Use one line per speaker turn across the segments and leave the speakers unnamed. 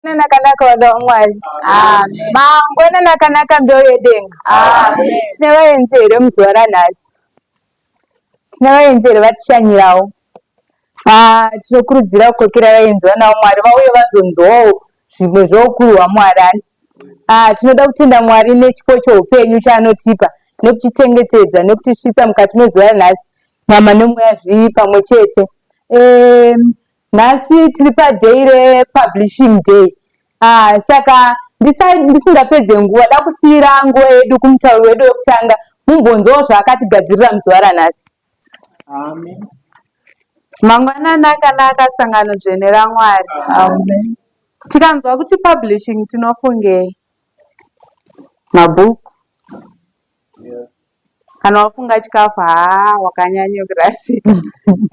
nakanaka vada vamwari
mangwana nakanaka
mbeu yedenga tine
vaenzi here
muzuva ranhasi tine vaenzi here vatishanyirawo ah, tinokurudzira kukokera vaenzi vanawo mwari vauye vazonzwawo zvimwe zvoukuru hwamwari handi ah, tinoda kutenda mwari nechipo choupenyu chaanotipa nekutichengetedza nekutisvitsa mukati mezuva ranhasi nyama nemweya zvii pamwe chete Nhasi tiri paday republishing day ah, saka ndisingapedze nguva dakusiyira nguva yedu kumutauri wedu wekutanga mumbonzwawo zvaakatigadzirira muzuva ranhasi.
Amen. Mangwanani akanaka sangano dzvene raMwari. Amen.
Tikanzwa
kuti publishing tinofungei? Mabhuku. Yeah. Kana wafunga chikafu haa wakanyanya kurasika.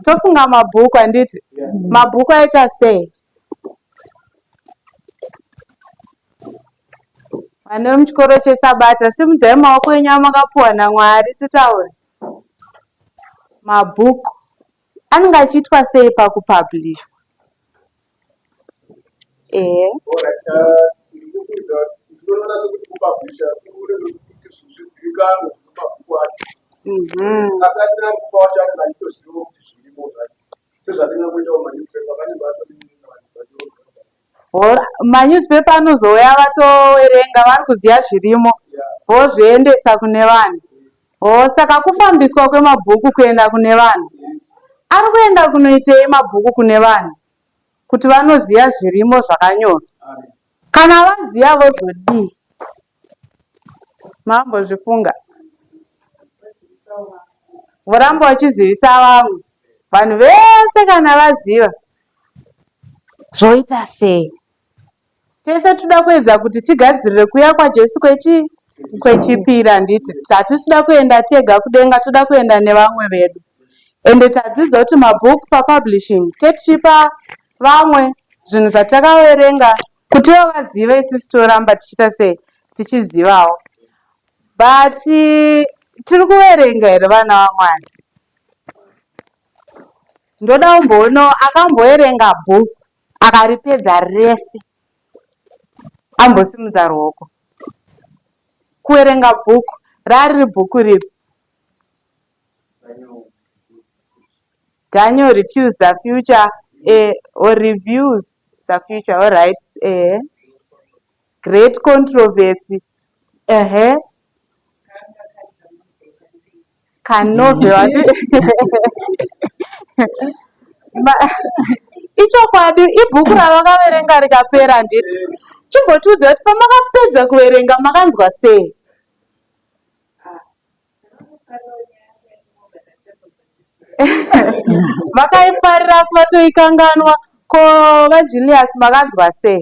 Tofunga mabhuku handiti? Mabhuku aita sei? Vana vemuchikoro cheSabata, simudzai maoko enyu amakapuwa naMwari titaure. Mabhuku anenge achiitwa sei pakupabhurishwa? Ehe. Manewspaper anozouya vatoverenga varikuziva zvirimo vozviendesa kune vanhu. Hoo saka kufambiswa kwemabhuku kuenda kune vanhu. Ari kuenda kunoitei mabhuku kune vanhu kuti vanoziva zvirimo zvakanyorwa. Kana vaziva vozodii. Mambozvifunga. Voramba vachizivisa vamwe. Vanhu vese kana vaziva zvoita sei. Tese tinoda kuedza kuti tigadzirire kuuya kwaJesu kwechi kwechipiri handiti hatisi kuda kuenda tega kudenga toda kuenda nevamwe vedu ende tadzidza kuti mabook papublishing tetichipa vamwe zvinhu zvatakaverenga kutiwo vazive isisi toramba tichiita sei tichizivawo but tiri kuverenga here vana vamwari ndoda umboonawo akamboverenga book Akaripedza rese ambosimudza ruoko kuverenga bhuku raariri bhuku ripi Daniel refuse the future eh, or reviews the future all right eh. great controversy uh -huh. kanove wati ichokwadi ibhuku ravakaverenga rikapera handiti chimbotiudza kuti pamakapedza kuverenga makanzwa sei vakaifarira asi vatoikanganwa ko vajulius makanzwa sei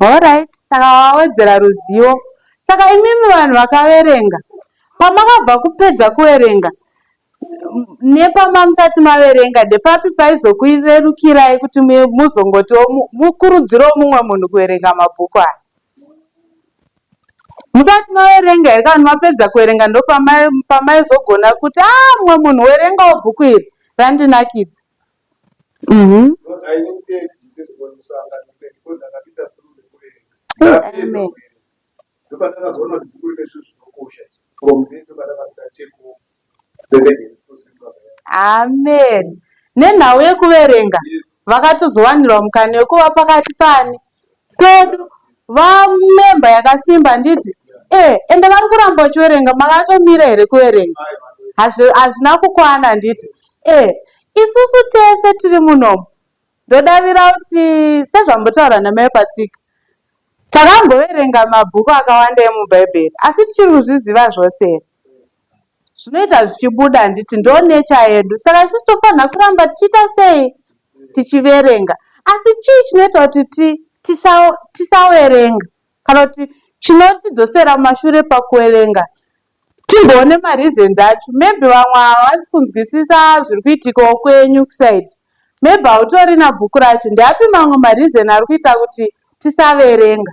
Horaiti saka wawedzera ruzivo. Saka imimi vanhu vakaverenga, pamakabva kupedza kuverenga nepamusati maverenga ndepapi paizokurerukirai kuti muzongotiwo mukurudzirewo mumwe munhu kuverenga mabhuku aya? Musati maverenga here kana kuti mapedza kuverenga ndopamaizogona kuti aa ah, mumwe munhu werengawo bhuku iri randinakidza? Umm. Amen nenhau yekuverenga vakatozowanirwa mukana wekuva pakati paani? kwedu vamember yakasimba handiti eeh ende vari kuramba vachiverenga makatomira here kuverenga hazvina kukwana handiti eeh isusu tese tiri munomu ndodavira kuti sezvambotaura namai patsika takamboverenga mabhuku akawanda emubhaibheri asi tichiri kuzviziva zvose here zvinoita zvichibuda handiti ndo nature yedu saka tisu tofanira kuramba tichiita sei tichiverenga asi chii chinoita kuti tisawerenga kana kuti chinotidzosera mumashure pakuwerenga timboone mareasons acho maybe vamwe havasi kunzwisisa zviri kuitikawo kwenyu kusaid maybe hautorina bhuku racho ndeapi mamwe mareason ari kuita kuti tisaverenga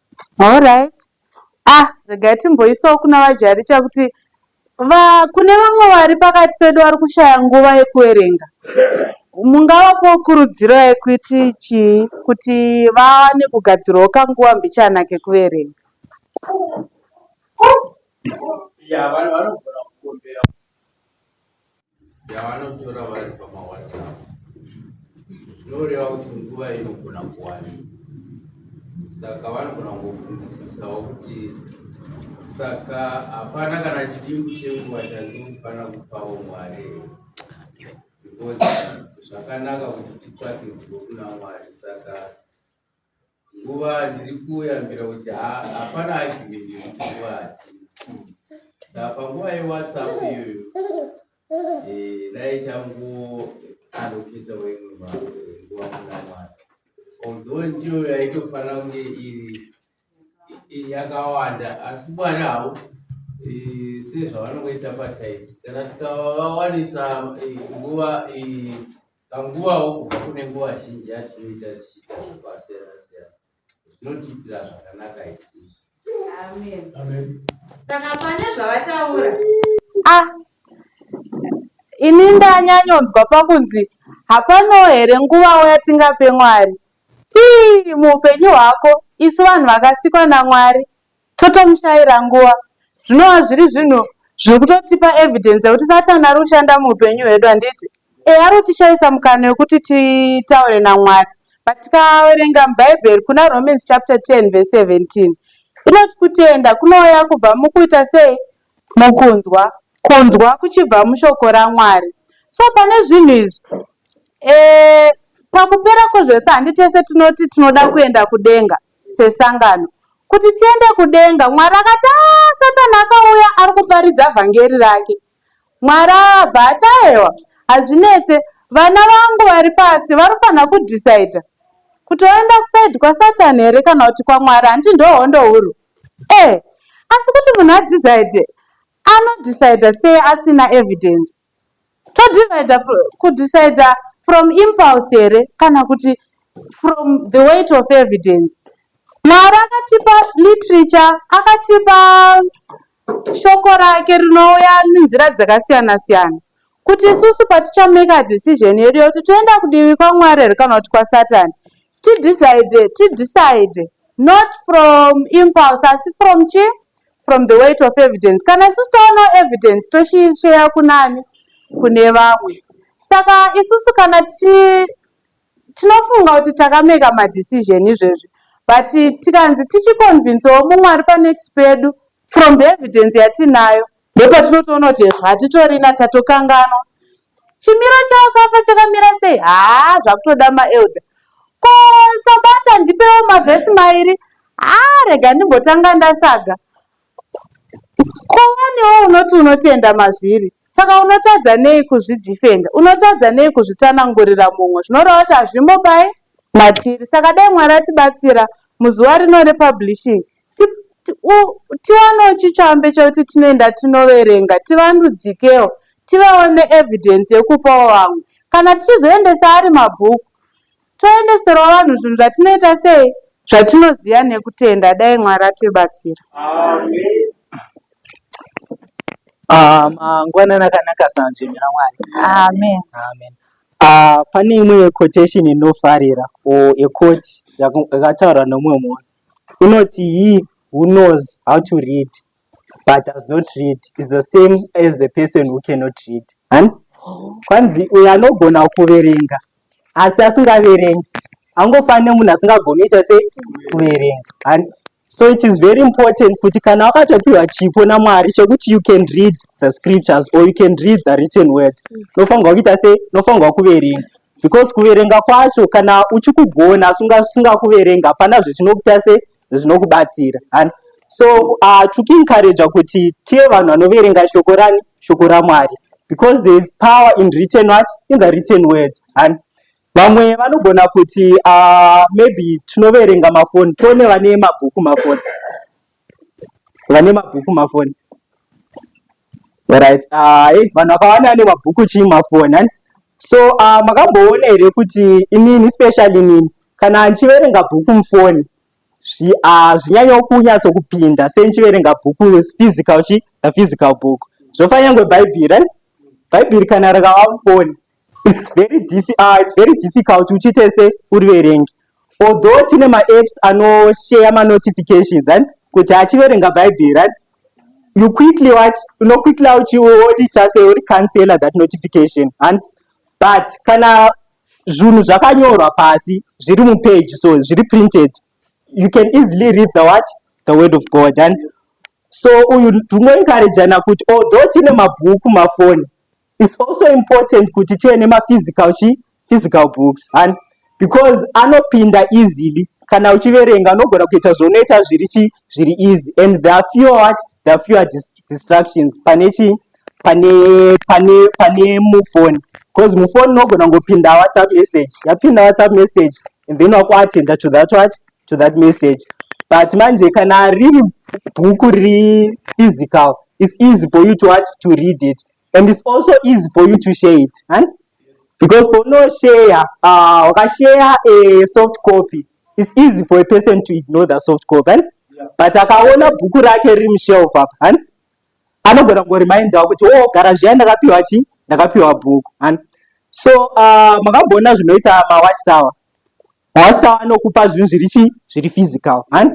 Horyt
ah regai timboisawo kuna vaJaricha kuti va kune vamwe vari pakati pedu vari kushaya nguva yekuverenga mungavapowo kurudziro yekuti chii kuti vawane kugadzirawo kanguva mbichana kekuverenga.
yavanotora vari pamawhatsapp zvinoreva kuti nguva inogona kuwani saka vanogona kungofunisisawo kuti saka hapana kana chidimbu chenguva chandinofanira kupawo mwari because zvakanaka kuti titsvake zivo kuna mwari saka nguva ndiri kuyambira kuti hapana agivenge kuti nguva hatina saka panguva yewhatsapp iyoyo eh, ndaita ngo anoketa wemwe nguva kuna mwari although ndiyo yaitofanira kunge iri yakawanda asi mwari hau eh, sezvavanongoita pataipi kana tikavawanisa eh, nguva Panguvawo kubva kune nguva zhinji yatinoita tichiita zvakasiyana-siyana zvinotiitira zvakanaka isusu.
Saka pane zvavataura. Ah,
ini ndanyanyonzwa pakunzi hapanawo here nguvawo yatingape Mwari. Ii, muupenyu hwako isu vanhu vakasikwa naMwari Totomushaira nguva. Zvinova zviri zvinhu zviri kutotipa evidence yekuti Satan ari kushanda muupenyu hwedu handiti? Ehe ari kutishaisa mukana wekuti titaure naMwari. But tikaverenga muBhaibheri kuna Romans chapter 10 verse 17 inoti kutenda kunouya kubva mukuita sei? Mukunzwa. Kunzwa kuchibva mushoko raMwari. So pane zvinhu izvi eh, pakupera kwezvese handi tese tinoti tinoda kuenda kudenga. sesangano kuti tiende kudenga Mwari akati aa Satan akauya ari kuparidza vhangeri rake Mwari abva ati aewa hazvinetse vana vangu vari pasi vanofanira kudecider kuti oenda kuside kwaSatan here kana kuti kwaMwari handiti ndohondo huru eh asi kuti munhu adecide Ano decider sei asina evidence? To divider ku decider from impulse here kana kuti from the weight of evidence? Mwari akatipa literature, akatipa shoko rake rinouya nenzira dzakasiyana siyana kuti isusu patichameka decision yedu yekuti toenda kudivi kwamwari here kana kuti kwasatani tidecide tidecide not from impulse asi from chi from the weight of evidence kana isusu taonawo evidence tochiisheya kunani kune vamwe saka isusu kana tichi tinofunga kuti takameka madecision izvezvi but tikanzi tichiconvincewo mumwe ari panext pedu from the evidence yatinayo ndopatinotoona kuti hezvo hatitorina tatokanganwa chimiro chawakafa chakamira sei haa zvakutoda maelder ko sabata ndipewo mavhesi mairi Haa rega ndimbotanga ndasaga. Ko wanewo unoti unotenda mazviri saka unotadza nei kuzvidhifenda? Unotadza nei kuzvitsanangurira mumwe? Zvinoreva kuti hazvimo paye matiri saka dai Mwari atibatsira muzuva rino republishing tiwanewo chitsvambe chekuti tinoenda tinoverenga tivandudzikewo tivewo neevidence yekupawo vamwe kana tichizoendesa ari mabhuku Toendeserwa vanhu zvinhu zvatinoita sei? Zvatinoziva nekutenda. Dai Mwari atibatsira.
Amen. Ah, mangwanani akanaka sanzvimbo raMwari. Amen. Amen.
Ah,
pane imwe quotation inofarira or a quote yakataurwa nomumwe munhu inoti he who knows how to read but does not read is the same as the person who cannot read han kwanzi uyo anogona kuverenga asi asingaverengi angofani nemunhu asingagoni ita se kuverenga han so it is very important kuti kana wakatopiwa chipo namwari chekuti you can read the scriptures or you can read the written word nofanirwa kuita se nofanirwa kuverenga because kuverenga kwacho kana uchikugona asi usingakuverenga hapana zvechinokuita se zvinokubatsira and so uh, tokuencouragea kuti tive vanhu vanoverenga shoko rani shoko ramwari because there is power in written what in the written word and vamwe vanogona kuti uh, maybe tinoverenga mafoni tione vane mabhuku mafoni vane mabhuku mafoni right ah, hey, vanhu vakawanda ane mabhuku chii mafoni so uh, makamboona here kuti inini specially nini Kana ndichiverenga bhuku mufoni hazvinyanyo ah, kunyatso kupinda sei ndichiverenga bhuku physical chi a physical book zvofa nyangwe bhaibheri right bhaibheri kana rakava mufoni it's very diffi uh, it's very difficult kuti uchiite se uriverenge although tine maapps anosheya manotifications right kuti achiverenga bhaibheri right you quickly what unoquickly uchiodita se uri cancela that notification and but kana Zvunhu zvakanyorwa pasi zviri mupage so zviri printed you can easily read the what the word of God and so uyu tingoencouragana kuti although tine mabhuku mafoni it's also important kuti tive nemaphysical chi physical books and because anopinda easily kana uchiverenga unogona kuita zvaunoita zviri chi zviri easy and there are fewer what there are fewer dis distractions pane chii pane pane pane mufoni because mufoni unogona kungopinda whatsapp message yapinda whatsapp message and then wakuatenda to that what to that message but manje kana riri bhuku riri physical it's easy for you to what to read it and it's also easy for you to share it right? because paunosheya uh, wakasheya a soft copy it's easy for a person to ignore the soft copy right? yeah. but akaona bhuku rake riri mushelf apa right? anogona kungorimindawo kuti o oh, gara zviya ndakapiwa chi ndakapiwa bhuku right? so uh, makambona zvinoita mawatchtower Hosha vanokupa zvinhu zviri chii? Zviri physical, hani?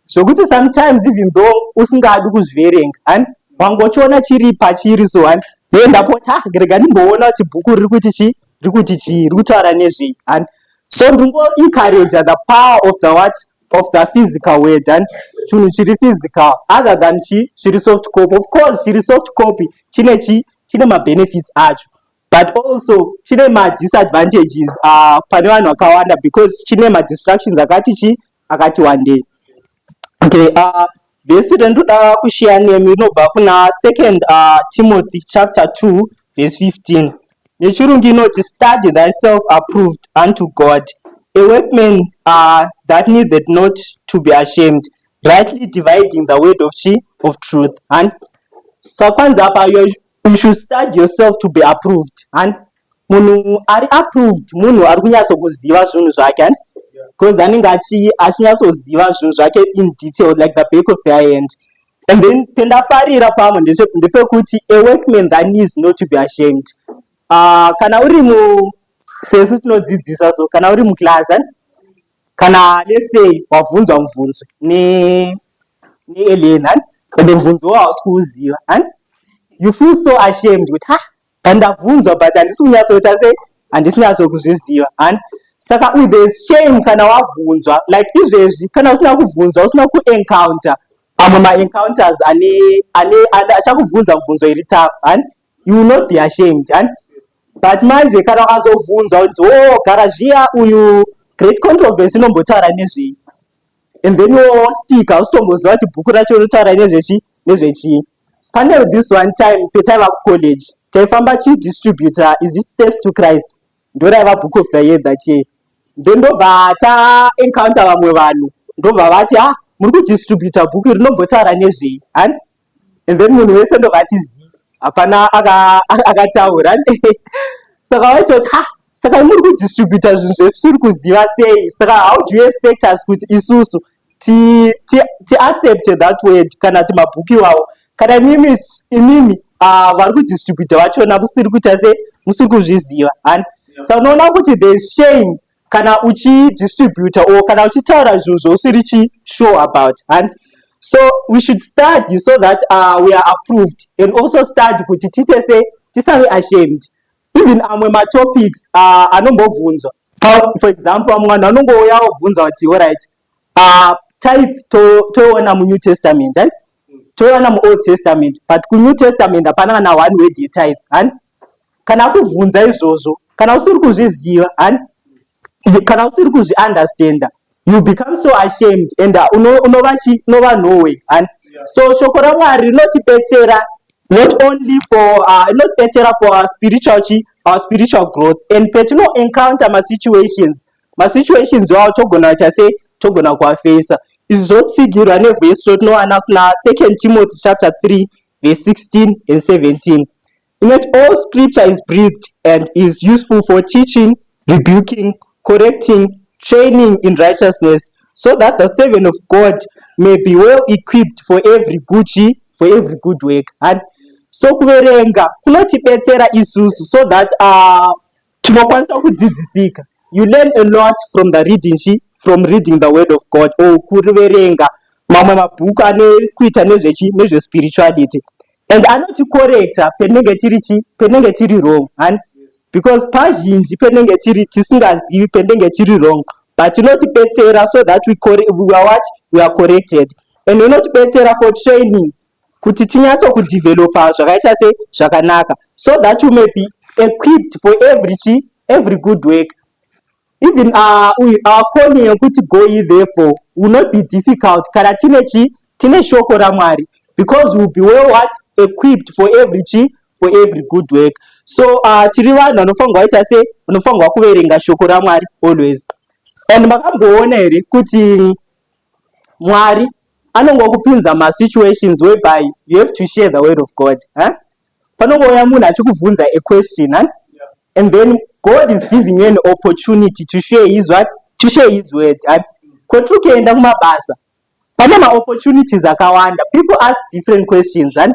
Zvokuti sometimes even though usingadi kuzviverenga, hani? Wangochiona chiri pachiri so, hani? Hei ndapota, rega ndimboona kuti bhuku riri kuti chii? Riri kuti chii? Riri kutaura nezvei, hani? So ndingo encourage the power of the what? Of the physical word, hani? Chinhu chiri physical, other than chii? Chiri soft copy. Of course, chiri soft copy chine chii? Chine mabenefits acho. but also chine madisadvantages uh, pane vanhu vakawanda because chine madistractions akati chii akati wandei okay uh, vhesi rendoda kushiya nemi rinobva kuna second uh, timothy chapter 2 verse 15 nechirungu inoti study thyself approved unto god a workman uh, that needed not to be ashamed rightly dividing the word of chi of truth and sakwanza so, apa You should study yourself to be approved. Hani? Munhu ari approved, munhu ari kunyatso kuziva zvinhu zvake, hani? Because anenge achi achinyatso ziva zvinhu zvake in detail like the back of their hand. And then pendafarira pamwe ndese ndepekuti a workman that needs not to be ashamed. Ah, uh, kana uri mu sesu tinodzidzisa so kana uri mu class, hani? Kana lesei wavhunzwa muvhunzo ne ne alien hani ende muvhunzo wawo hausi kuuziva hani you feel so ashamed kuti ha pandavhunzwa but handisi kunyatsoita sei handisi nyatso kuzviziva hani saka u there is shame kana wavhunzwa like izvezvi kana usina kuvhunzwa usina kuencounter amwe maencounters ane ane achakuvhunza muvhunzo iri tough hani You will not be ashamed, and but manje kana ukazobvunzwa kuti oh garazhiya uyu great controversy inombotaura nezvei and then wostika usitomboziva kuti bhuku racho rinotaura nezvechi nezvechii pane this one time petaiva kucollege taifamba chidistributor is it steps to christ ndoraiva book of the year that year then ndobva taencounter vamwe vanhu ndobva vati ha ah, muri kudistributor book rinombotaura nezvei and then munhu wese ndobva ati zii hapana akataura aka saka waita kuti ha saka imuri kudistributa zvinhu zvetisiri kuziva sei saka how do you expect us kuti isusu tiaccepte that word kana ti mabhuku iwawo kana imimi imimi ah, vari kudistributa vachona musiri kuita sei musiri kuzviziva hani sa unoona kuti the shame kana uchi distributor or kana uchitaura zvinhu zvousiri chi sure about and so we should study so that uh, we are approved and also study kuti tiite se tisave ashamed even amwe matopics uh, anombobvunzwa for example amwe vanhu vanongouya obvunza kuti orit Ah, tithe to- toiona munew testament eh? toiona muold testament but kunew testament hapana kana one word yetithe hani kana akubvunza izvozvo kana usiri kuzviziva hani You- kana usiri kuzviunderstanda you become so ashamed and uh, uno- unova chi- unova nowe hani so shoko ramwari rinotibetsera not only for uh, inotibetsera for our spiritual chi our spiritual growth and petino encounter masituations masituations iwawo togona kuita sei togona kuafeisa izvi zvotsigirwa nevhesi rotinowana kuna 2 timothy chapter 3 verse 16 and 17 inoti all scripture is breathed and is useful for teaching rebuking correcting training in righteousness so that the servant of god may be well equipped for every good for every good work and so kuverenga kunotibetsera isusu so that uh, Tinokwanisa kudzidzisika. You learn a lot from the reading she from reading the word of God or kuriverenga mamwe mabhuku ane kuita nezvechi nezvespirituality and anotikorekta penenge tiri chi penenge tiri wrong hani because pazhinji penenge tiri tisingazivi penenge tiri wrong but inotibetsera so that we, we are what we are corrected and inotibetsera for training kuti tinyatso kudeveloper zvakaita se zvakanaka so that you may be equipped for every chi every good work even uh, our calling yekuti go ye therefore will not be difficult kana tine chi tine shoko ramwari because will be well what equipped for every chi for every good work so uh, tiri vanhu vanofanirwa waita se unofanirwa kuverenga shoko ramwari always and makamboona here kuti Mwari anongokupinza ma situations whereby you have to share the word of God huh? panongouya munhu achikubvunza a question huh? and then God is giving you an opportunity to share his what to share his word huh? kwatiri kuenda kumabasa pane ma opportunities akawanda people ask different questions huh?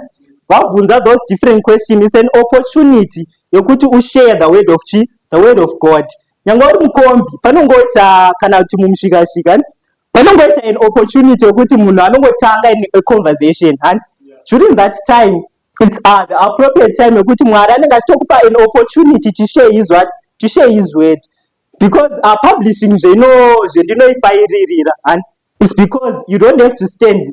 vabvunza those different questions it's an opportunity yekuti ushare the word of chi the word of God nyangwe uri mukombi panongoita kana kuti mumusvikashika hani panongoita an opportunity yokuti munhu anongotanga in a conversation hani during that time its uh, the appropriate time yokuti mwari anenge achitokupa an opportunity to share his what to share his word because uh, publishing zvino zvendinoifairirira hani is because you don't have to stand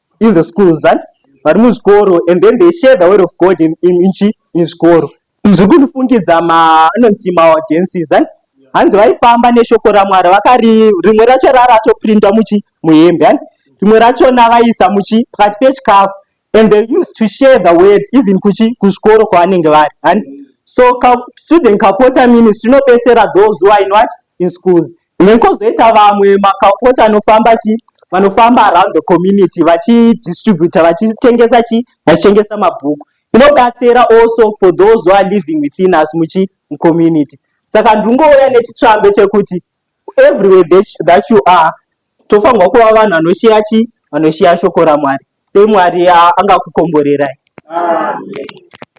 in the schools and vari muzvikoro and then they share the word of god in, in, in, in zvikoro izvi kunifungidza maanonzi maaudiences and hanzi vaifamba neshoko ramwari vakari rimwe racho raratoprinda muchi muhembe and rimwe rachona vaisa muchi pakati pechikafu and they used to share the word even kuchi kuzvikoro kwavanenge vari and so ka, student kapota ministry inobetsera those who are in what in schools Then kozoita vamwe makaupots anofamba chi vanofamba around the community vachidistributa vachitengesa chi vachitengesa mabhuku inobatsira also for those who are living within us muchi mucommunity saka ndingouya nechitsvambe chekuti everywhere that you are tofanirwa kuva vanhu vanoshiya chi vanoshiya shoko ramwari Dai Mwari angakukomborerai.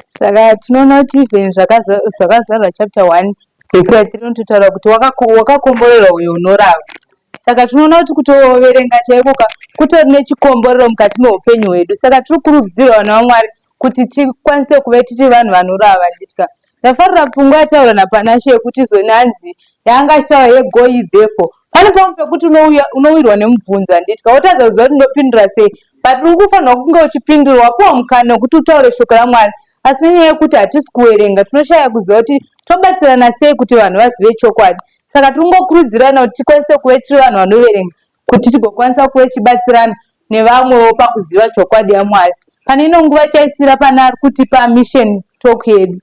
Saka tinoona kuti even zvakazarwa chapter 1 vese yatiri unototaura kuti wakakomborerwa uyo unorava. Saka tinoona kuti kutoverenga chaiko ka kutori nechikomborero mukati meupenyu hwedu. Saka tiri kukurudzira vana vaMwari kuti tikwanise kuve tiri vanhu vanorava vachitya. Ndafarira pfungwa yataura naPanashe yekuti zoni hanzi yaanga achitaura yego iyi therefore pane pamwe pekuti unowirwa nemubvunzo handitya wotadza kuziva kuti ndopindura sei but uri kufanirwa kunge uchipindura wapiwa mukana wekuti utaure shoko ramwari asi nenyaya yekuti hatisi kuwerenga tinoshaya kuziva kuti tobatsirana sei kuti vanhu vazive chokwadi saka tiri kungokurudzirana kuti tikwanise kuve tiri vanhu vanoverenga Kuti tigokwanisa kuve tichibatsirana nevamwewo pakuziva chokwadi yaMwari. Pane ino nguva chaisira pane ari kutipa mission talk yedu.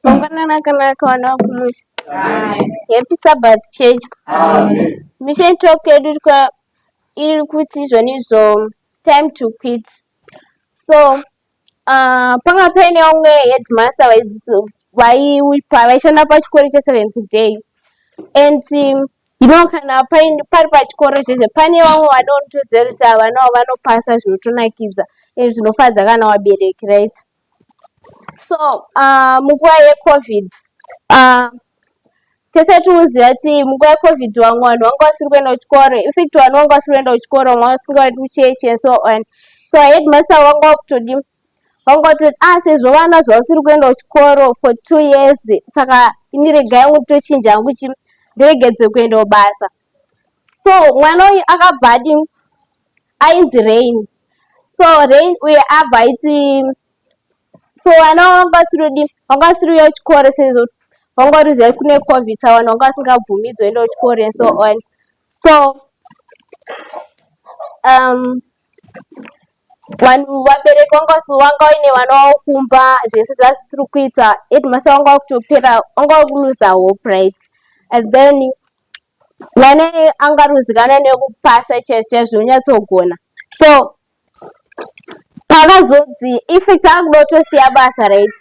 Mangwanani akanaka vana vakumusha. Happy Sabbath Church. Mission talk yedu iri kuti izvonizvo time to quit. So Ah, panga paine vamwe headmaster vaishanda pachikoro cheseventh day and um, you know kana pari pachikoro chezve pane vamwe vanotoziva kuti ava navo vanopasa zvinotonakidza and zvinofadza kana wabereki right so ah, munguva yecovid ah, tese tinoziva kuti munguva yecovid vamwe vanhu vanga vasiri kuenda kuchikoro infact vanhu vanga vasiri kuenda kuchikoro vamwe vanga vasingaendi kuchechi and so on so headmaster vanga vakutodi vanga vatoti ah sezvo vana zvavasiri kuenda kuchikoro for two years saka ini rega yangu tochinja yangu chi ndiregedze kuendawo basa so mwana uyu akabva adi ainzi rain so rain uye abva aiti so vana wanga usiri udi wanga usiri uya kuchikoro sezvo wanga uri zai kune covid sa vanhu wanga vasingabvumidzwa enda kuchikoro and so on so um vanhu vabereki wanga wanga uine vana wavo kumba zvese zvazvisiri kuita edmasa wanga wakutopera wanga wakuluza hope right and then vana angaruzikana nekupasa chaizvo chaizvo unyatsogona so Pakazonzi if takuda kutosiya basa right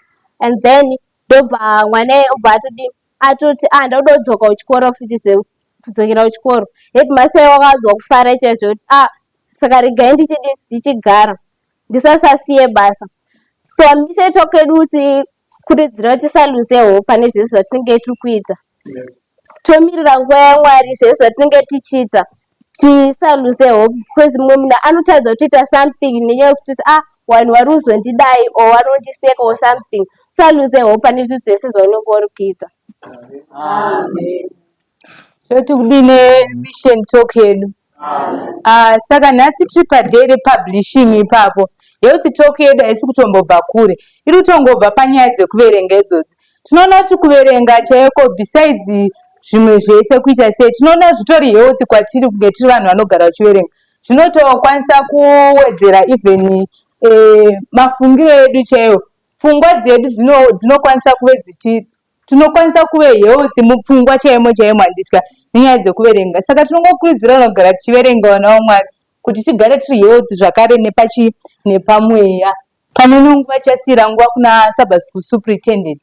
and then ndobva mwana obva atodi atoti ah ndakuda kudzoka kuchikoro futi zvekudzokera kuchikoro headmaster wakawanzwa kufara chaizvo kuti ah saka regai ndichidi ndichigara ndisasasiye basa so hamichaitwa kwedu kuti kuridzira kuti tisaluze hope pane zvese zvatinenge tiri kuita tomirira nguva yamwari zvese zvatinenge tichiita tisaluze hope because mumwe munhu anotadza kutoita something nenyaya yekuti ah vanhu vari kuzondidai or vanondiseka or something tisaluze hope pane zvinhu zvese zvaunenge uri kuita
toti kudii nemission talk yedu uh, saka nhasi tiri paday republishing ipapo health talk yedu haisi kutombobva kure iri kutongobva panyaya dzekuverenga idzodzi tinoona kuti kuverenga chaiko besides zvimwe zvese kuita sei tinoona zvitori health kwatiri kunge tiri vanhu vanogara vachiverenga zvinotokwanisa kuwedzera even eh, mafungiro edu chaiwo pfungwa dzedu dzinokwanisa kuve dzichi Tinokwanisa kuve healthy mupfungwa chaimo chaimo handitya nenyaya dzekuverenga saka tinongokurudzirana kugara tichiverenga vana vaMwari kuti tigare tiri healthy zvakare nepachii nepamweya. Pane imwe nguva chasiira nguva kuna Sabbath School Superintendent.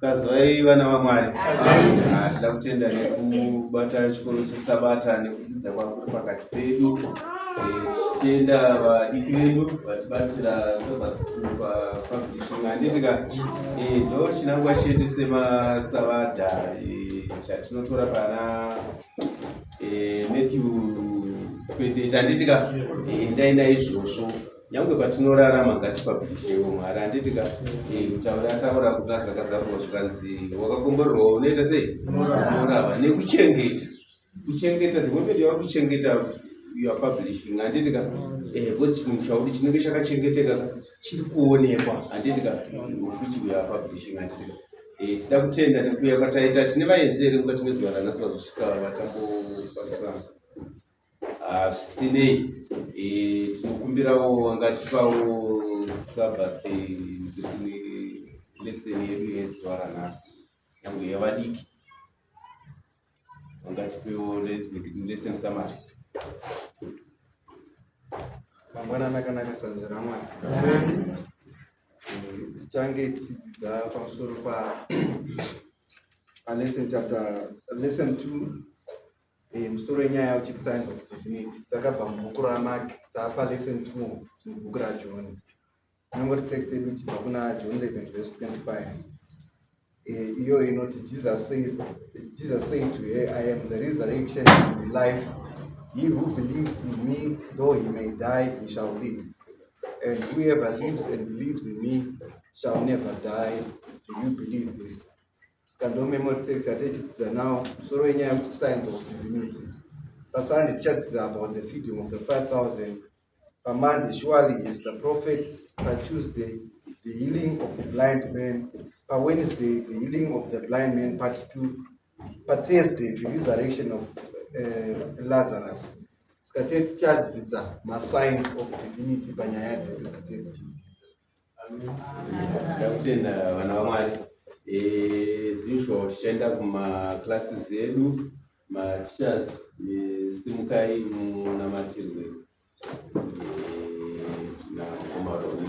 Kazivai vana vaMwari. Ah, tinoda kutenda nekubata chikoro chesabata nekudzidza kwakuri pakati pedu tichitenda eh, vadiki vedu vatibatira sabbath school papublishing handitika eh, ndo chinangwa chedu semasavadha eh, chatinotora pana matthew kwete chanditika ndaenda izvozvo nyange patinorarama ngatipabhidhewo mwari handiti ka kutaura eh, taura kuda zvakazarwa zvikanzi wakakomborerwa unoita sei unorava nekuchengeta kuchengeta the moment yava kuchengeta your publishing handiti ka eh, because chinhu chauri chinenge chakachengeteka chiri kuonekwa handiti ka ufuchi your publishing handiti ka eh, tida kutenda nekuuya kwataita tine vaenzi here mukati mezuva ranasi vazosvika vatambobatsirana Ah, zvisinei eh, tinokumbirawo angatipawo sabbath lesson yedu yezuva ranhasi yangu yevadiki angatipewo lesson summary
mangwana nakanaka sanzva ramwari tichange tichidzidza pamusoro pa lesson chapter lesson two Eh, musoro wenyaya uchiti science of divinity dzakabva mubhuku ramak dzaapa lesson t mubhuku rajohn inongoti text yedu ichibva kuna john 11 vese 25 eh, iyo inoti jesus says jesus say to her i am the resurrection and the life he who believes in me though he may die he shall live and whoever lives and believes in me shall never die do you believe this Ska ndo memory text yatichidzidza nawo musoro wenyaya yekuti science of divinity pasande tichadzidza about the feeding of the 5000 pamonday surely is the prophet patuesday the healing of the blind man pawednesday the healing of the blind man part two pathursday the resurrection of uh, lazarus ska tee tichadzidza mascience of divinity panyaya dzese dzatee tichidzidza Tinoda
kutenda vana vaMwari. Eh, as usual tichaenda kumaclasses edu mateachers eh, simukai munamatirwe eh, nakomaroni